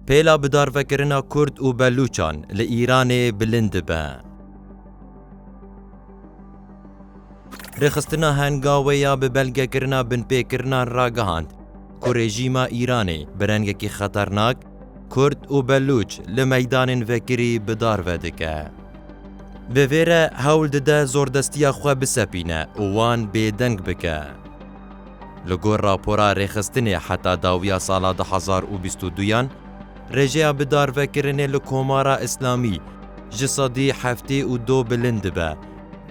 Pêla bidarvekirina Kurd û Belûçan li Îranê bilind dibe. Rêxistina hengawê ya bi belgekirina binpêkirinan ragihand ku rejîma Îranê bi rengekî xeternak Kurd û Belûç li meydanên vekirî bidarve dike. Bi vê re hewl dide zordestiya xwe bisepîne û wan bêdeng bike. Li gor rapora rêxistinê heta dawiya sala du hezar û bîst û duyan, rêjeya bidarvekirinê li Komara Îslamî ji sedî heftê û du bilind dibe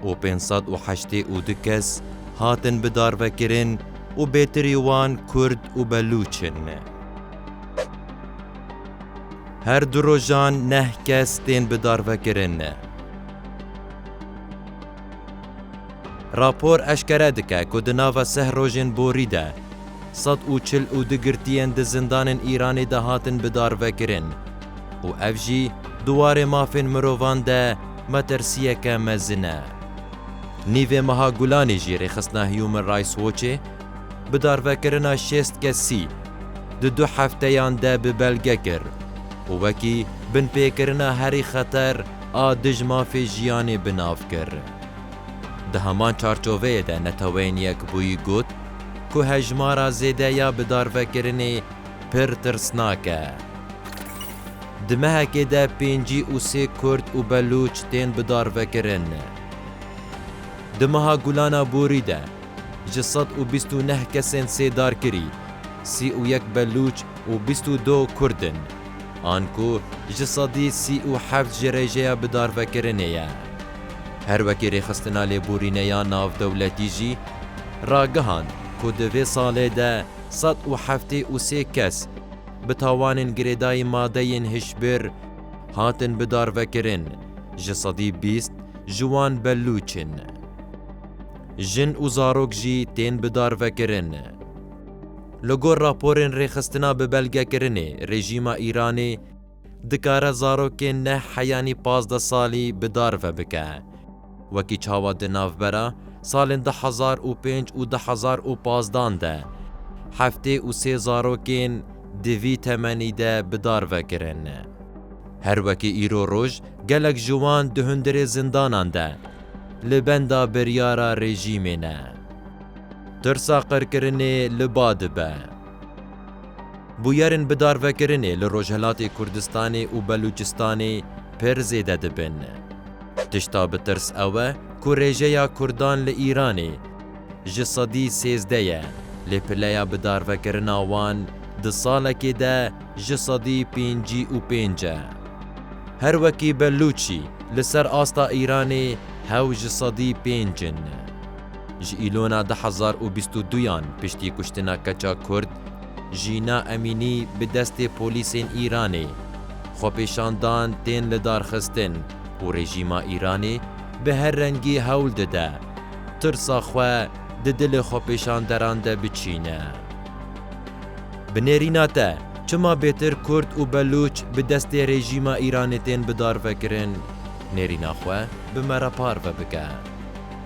û pênc sed û heştê û du kes hatin bidarvekirin û bêtirî wan Kurd û Belûç in. Her du rojan neh kes tên bidarvekirin. Rapor eşkere dike ku di nava seh rojên borî de sed û çil û du girtiyên di zindanên Îranê de hatin bidarvekirin û ev jî di warê mafên mirovan de metirsiyeke mezin e. Nîvê meha Gulanê jî rêxistina Human Rights Watchê bidarvekirina şêst kesî di du hefteyan de bi belge kir û wekî binpêkirina herî xeter a dij mafê jiyanê bi nav kir. Di heman çarçoveyê de Neteweyên Yekbûyî got ku hejmara zêde ya bidarvekirinê pir tirsnak e. Di mehekê de pêncî û sê Kurd û Belûç tên bidarvekirin. Di meha Gulana Borî de ji sed û bîst û neh kesên sêdarkirî sî û yek Belûç û bîst û du Kurd in. an ku ji sedî sî û heft ji rêjeya bidarvekirinê ye. Her wekî Rêxistina Lêborîneya Navdewletî jî ragihand ku di vê salê de sed û heftê û sê kes bi tawanên girêdayî madeyên hişbir hatin bidarvekirin, ji sedî bîst ji wan belûç in. Jin û zarok jî tên bidarvekirin. Li gor raporên rêxistina bi belgekirinê rejîma Îranê dikare zarokên neh heyanî pazdeh salî bi dar ve bike. Wekî çawa di navbera salên du hezar û pênc û du hezar û pazdan de heftê û sê zarokên di vî temenî de bi dar ve kirin. Her wekî îro roj gelek ji wan di hundirê zindanan de li benda biryara rejîmê ne. Tirsa qirkirinê li ba dibe. Bûyerên bi darvekirinê li Rojhilatê Kurdistanê û Belûçistanê pir zêde dibin. Tişta bi tirs ew e ku rêjeya Kurdan li Îranê ji sedî sêzdeh ye lê pileya bi darvekirina wan di salekê de ji sedî pêncî û pênc e. Her wekî Belûçî li ser asta Îranê hew ji sedî pênc in. Ji Îlona du hezar û bîst û du yan piştî kuştina keça Kurd Jîna Emînî bi destê polîsên Îranê, xwepêşandan tên lidarxistin û rejîma Îranê bi her rengî hewl dide tirsa xwe di dilê xwepêşanderan de biçîne. Bi nêrîna te çima bêtir Kurd û Belûç bi destê rejîma Îranê tên bidarvekirin, nêrîna xwe bi me re parve bike.